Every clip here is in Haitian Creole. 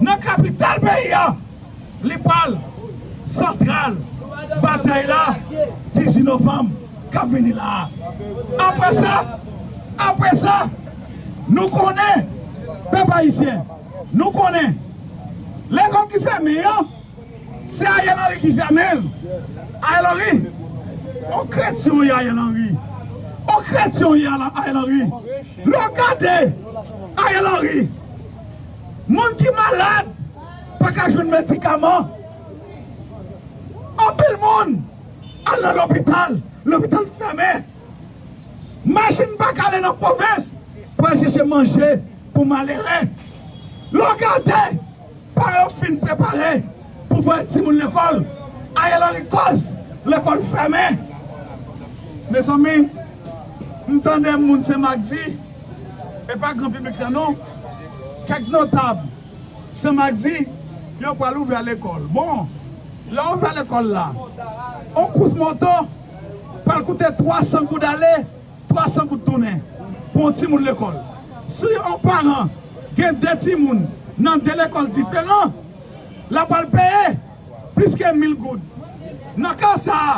nan kapital peyi a li pral santral batay la 18 novanm k ap vini la a. Apre sa, apre sa, nou konnen, pèp ayisyen, nou konnen, lekòl ki fèmen yo, se Ariel Henry ki fèmen l. Ariel Henry, on kretyen w ye Ariel Henry, on kretyen w ye Ariel Henry, lè w gade Ariel Henry, Moun ki malad pa ka jwenn medikaman. Anpil moun al nan lopital, lopital fèmen. Machin pa ka ale nan pwovens pou al chèche manje pou malere. Lè w gade, paran yo fin prepare pou voye timoun lekòl, Ariel Henry kòz lekòl fèmen. Mezanmi! M tande moun Senmakdi, e pa gran piblik la non, kèk notab Senmakdi yo pral ouvè lekòl. Bon, lè ouvè lekòl la, on kous moto pral koute 300 goud ale, 300 goud tounen pou on timoun lekòl. Si on paran gen 2 timoun nan 2 lekòl diferan, l ap pral peye Plis ke mil goud. Nan ka sa a,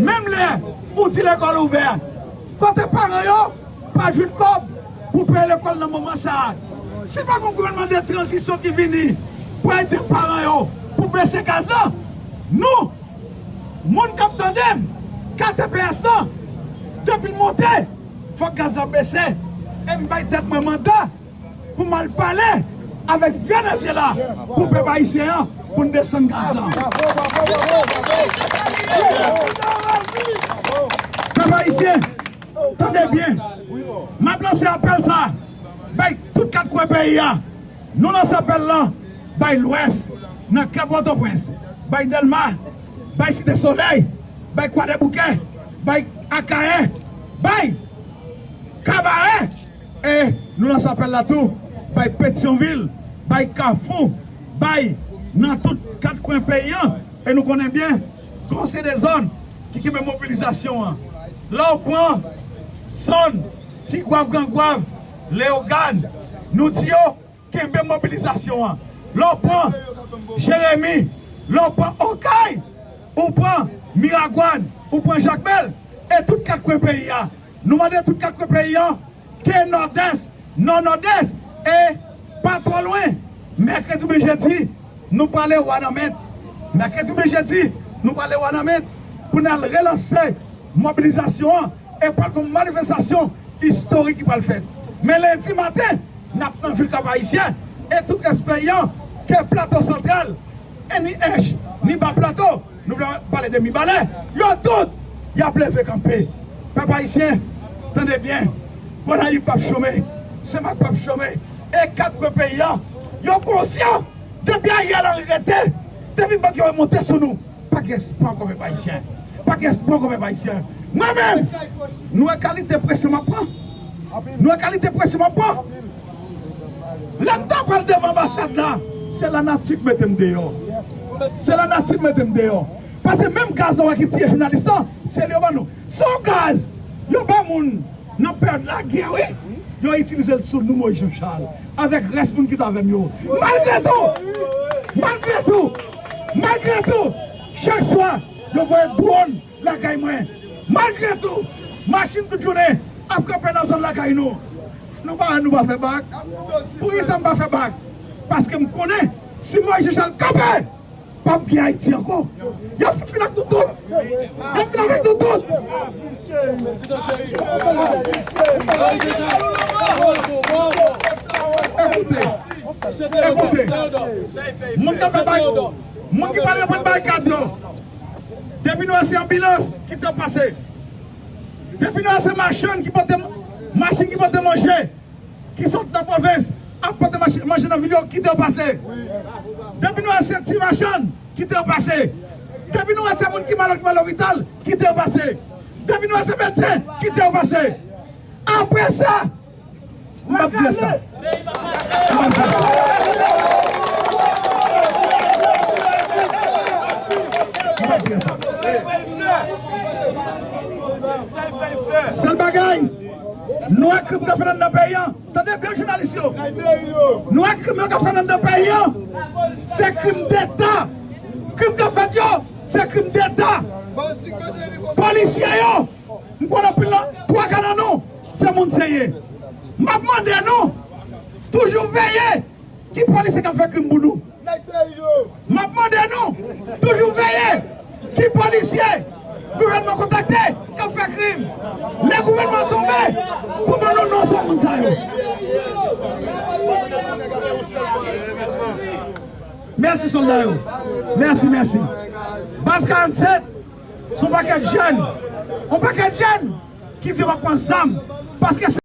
menm lè ou di lekòl ouvè, kote paran yo pa jwenn kòb pou peye lekòl nan moman sa a. Si pa gen yon gouvènman de tranzisyon ki vini pou ede paran yo pou bese gaz la, nou, moun k ap tande m, ka tps la, depi l monte, fòk gaz la bese. E m bay tèt mwen manda. Pou mal pale avek Venezyela pou pep ayisyen an pou n desann gaz la. Pep ayisyen tande byen map lanse apel sa bay tout 4 kwen peyi a nou lanse apel lan bay lwès nan kè potoprens bay delma bay site soley bay kwadeboukè bay akayè bay kabarè. E nou lanse apèl la tou bay Petyonvil, bay Kafou, bay nan tout kat kwen peyi an e nou konnen byen kon se 2 zòn ki kenbe mobilizasyon an. Lè w pran zòn Tigwav, Grangwav, Leyogàn, nou di yo Kenbe mobilizasyon an. Lè w pran Jeremi, lè w pran Okay, ou pran Miragwàn, ou pran Jakmèl e tout kat kwen peyi a. Nou mande tout kat kwen peyi an ke Nòdès, Nò, Nòdès e pa twò lwen, mèkredi oubyen jedi, nou prale Wanament. Mèkredi oubyen jedi, nou prale Wanament pou n al relanse mobilizasyon an. E pral gon manifestasyon istorik ki pral fèt. Men lendi maten nap nan vil Kap Ayisyen e tout rès peyi an ke Plato Santral, NIH, ni Ba Plato, nou pa pale de Mibalè, yo tout yap leve kanpe. Pèp Ayisyen tande byen, Gonayiv pap chome, Senmak pap chome e 4 kwen peyi an yo konsyan depi Ariel Henry rete, depi bak yo remonte sou nou. Pa gen spò kon pèp ayisyen. Pa gen spò kon pèp ayisyen. Mwen menm, nou wè kalite presyon m ap pran? Nou wè kalite presyon m ap pran? Lè m ta pral devan anbasad la, se lanati k mete m deyò. Se lanati k mete m deyò. Pase menm gaz la wè ki tiye jounalis lan, se li yo ban nou. Se yon gaz yo ba moun Nap perd la gè wi. Yo itilizel sou nou Moïse Jean Charles avek res moun ki t avem yo malgre tou malgre tou malgre tou chak swa yo voye drone lakay mwen malgre tou machine tout jounen ap kanpe nan zòn lakay nou nou pa nou pa fè bak poukisa m pa fè bak paskem konnen si Moïse Jean Charles kanpe Pap gen Haiti anko. Yap fout fin ak nou tout. Yap fin avek nou tout. Ekoute. Ekoute. Moun ki fe bay. Moun ki pale pwen bay kad yo. Depi nou e se anbilans ki te pase. Depi nou e se machann ki pote. Machin ki pote manje. ki sot nan pwovens ap pote manje nan vil yo kite yo pase depi nou wè se ti machann kite yo pase depi nou wè se moun ki malad ki pral lopital kite yo pase depi nou wè se medsen kite yo pase apre sa m pap di rès la sèl bagay Nou wè krim kap fèt anndan peyi an tande byen jounalis yo nou wè krim yo kap fèt anndan peyi an se krim deta krim kap fèt yo se krim deta polisye yo m konn anpil nan twa ka nan nou se moun se ye map mande nou toujou veye ki polisye kap fè krim pou nou. M ap mande nou toujou veye ki polisye gouvènman kontakte k ap fè krim. Lè gouvènman an tonbe, pou ban nou non sou moun sa yo. Mèsi sòlda yo. Mèsi, mèsi. Baz 47 se yon pakèt jèn, yon pakèt jèn ki di yo pa pran zam paske se.